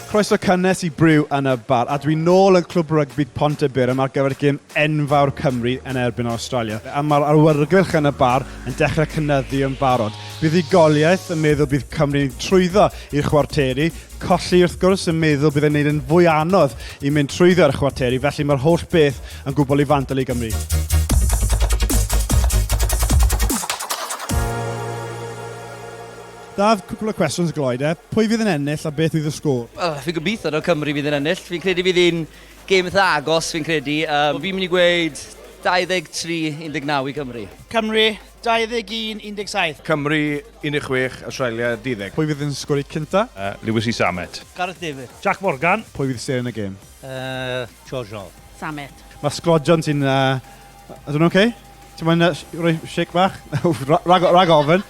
Croeso cynnes i Brew yn y Bar, a dwi'n nôl yn Clwb Rygbi Pontyburn ar gyfer gêm enfawr Cymru yn erbyn Awstralia, a mae'r awyrgylch yn y bar yn dechrau cynyddu yn barod. Buddugoliaeth yn meddwl bydd Cymru'n trwyddo i'r chwarteri, colli wrth gwrs yn meddwl bydd e'n neud yn fwy anodd i mynd trwyddo i'r chwarteri, felly mae'r holl beth yn gwbl i fandal i Gymru. Dad, cwpl o cwestiwns gloi de. Pwy fydd yn ennill a beth fydd y sgôr? Wel, fi'n gobeithio taw Cymru fydd yn ennill. Fi'n credu bydd hi'n gêm eitha agos, fi'n credu. Yym, fi'n mynd i gweud 23 19 i Cymru. Cymru, 21 17. Cymru, 16, Awstralia, 10. Pwy fydd yn sgorio cynta? Louis Samet. Gareth Davies. Jac Morgan. Pwy fydd seren y gêm? Yy, George Hall. Samet. Mae sglodion ti'n... Ydyn nhw'n oce? Ti'n moyn rhoi shake bach? Rhag ofn.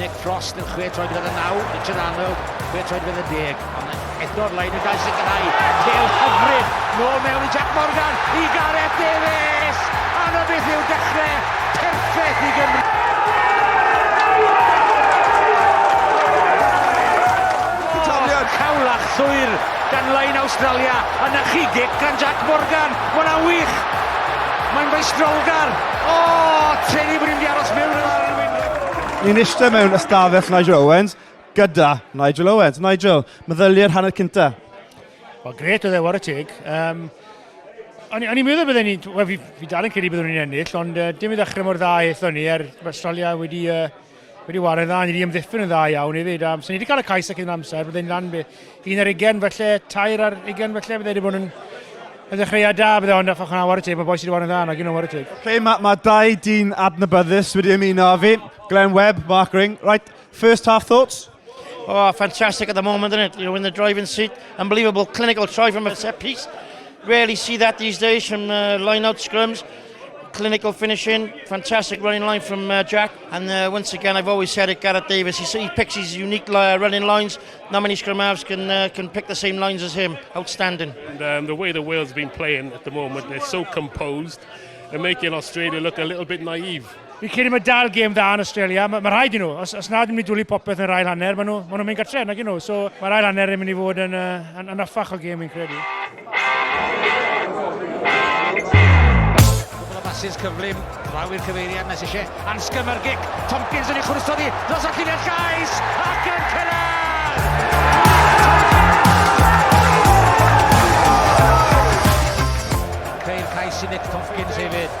Nick Frost yn chwe troed gyda'r naw, Richard Arnold, chwe troed gyda'r deg. Ond eto'r leid yn gael sicrhau. Cael hyfryd, nôl mewn i Jack Morgan, i Gareth Davies! Anna beth yw dechrau perffaith i Gymru. Taliad! Cawlach llwyr gan lain Australia, a na chi gic gan Jack Morgan. Mae'n wych! Mae'n feistrolgar! O, oh, teni bod ni'n di aros mewn yn arwyn. Ni'n eistedd mewn ystafell Nigel Owens gyda Nigel Owens. Nigel, meddyliau'r hanner cynta? Wel, gret oedd e, war y teg. Um, o'n i'n meddwl byddwn ni, wel, fi, fi dal yn credu byddwn ni'n ennill, ond uh, dim i ddechrau mor dda eithon ni, er mae Australia wedi, uh, wedi wario dda, ni wedi ymddiffyn yn dda iawn hefyd. Um, so ni wedi cael y cais ac yn amser, byddwn ni'n lan Un ar ugen falle, tair ar ugen falle, bydde wedi bod yn y ddechreuad da, bydde ond achos yna war y teg, mae boes wedi bod yn dda, nag un o war y teg. Okay, mae ma dau dyn adnabyddus wedi ymuno â fi, Glenn Webb, Mark Ring. Right, first half thoughts? Oh, fantastic at the moment, isn't it? You know, in the driving seat, unbelievable clinical try from a set piece. Rarely see that these days from uh, line-out scrums. clinical finishing, fantastic running line from uh, Jack. And uh, once again, I've always said it, Gareth Davis, he, he picks his unique uh, running lines, Not many scrum halves can uh, can pick the same lines as him. Outstanding. And um, the way the Wales have been playing at the moment, they're so composed and making Australia look a little bit naive. Fi'n credu mae dal gêm dda yn Australia. Mae ma rhaid i nhw. Os, os nad yn mynd i dwlu popeth yn yr ail hanner, maen nhw'n ma nhw mynd gartre, nag i nhw. So mae'r ail hanner yn mynd i fod yn, uh, yn, yn affach o gêm, fi'n credu. Cwbl o basys cyflym, draw i'r cyfeiriad nes eisiau ansgym ar gic. Tompkins yn ei chwrso di, dros y lliniau llais, ac yn cyrraedd! Ceir cais i Nick Tompkins hefyd.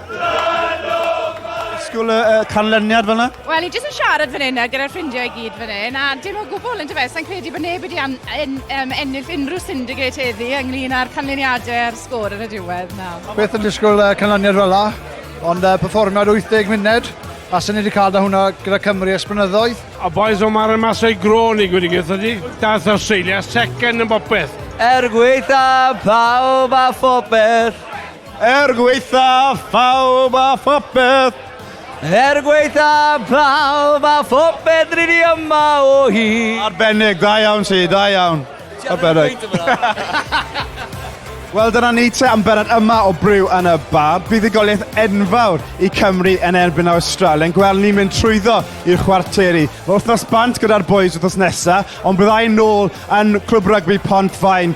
Sgwl y uh, canlyniad fel yna? Wel, i jyst yn siarad fan hyn gyda'r ffrindiau i gyd fan hyn, a dim o gwbl yn dyfa, sa'n credu bod neb wedi en, en, en, ennill unrhyw syndicate heddi ynglyn â'r canlyniadau a'r sgôr yn y diwedd. Na. Beth yn disgwyl uh, canlyniad fel yna, ond uh, perfformiad 80 munud, a sy'n ni wedi cael da hwnna gyda Cymru esbrynyddoedd. A boys o mar yn masau grôn i gwneud gyda ni. Dath Australia second yn bopeth. Er gweitha pawb a phopeth. Er gweitha phawb a phopeth. Er gweitha phawb a phopeth rydyn ni yma o hi. Arbennig, da iawn ti, da iawn. Arbennig. Wel, dyna ni te am berod yma o Bryw yn y Bar. Buddugoliaeth enfawr i Cymru yn erbyn Awstralia. Yn gweld ni'n mynd trwyddo i'r chwarteri. Mae wythnos bant gyda'r boys wythnos nesaf, ond byddai'n nôl yn Clwb Rygbi Pont Faen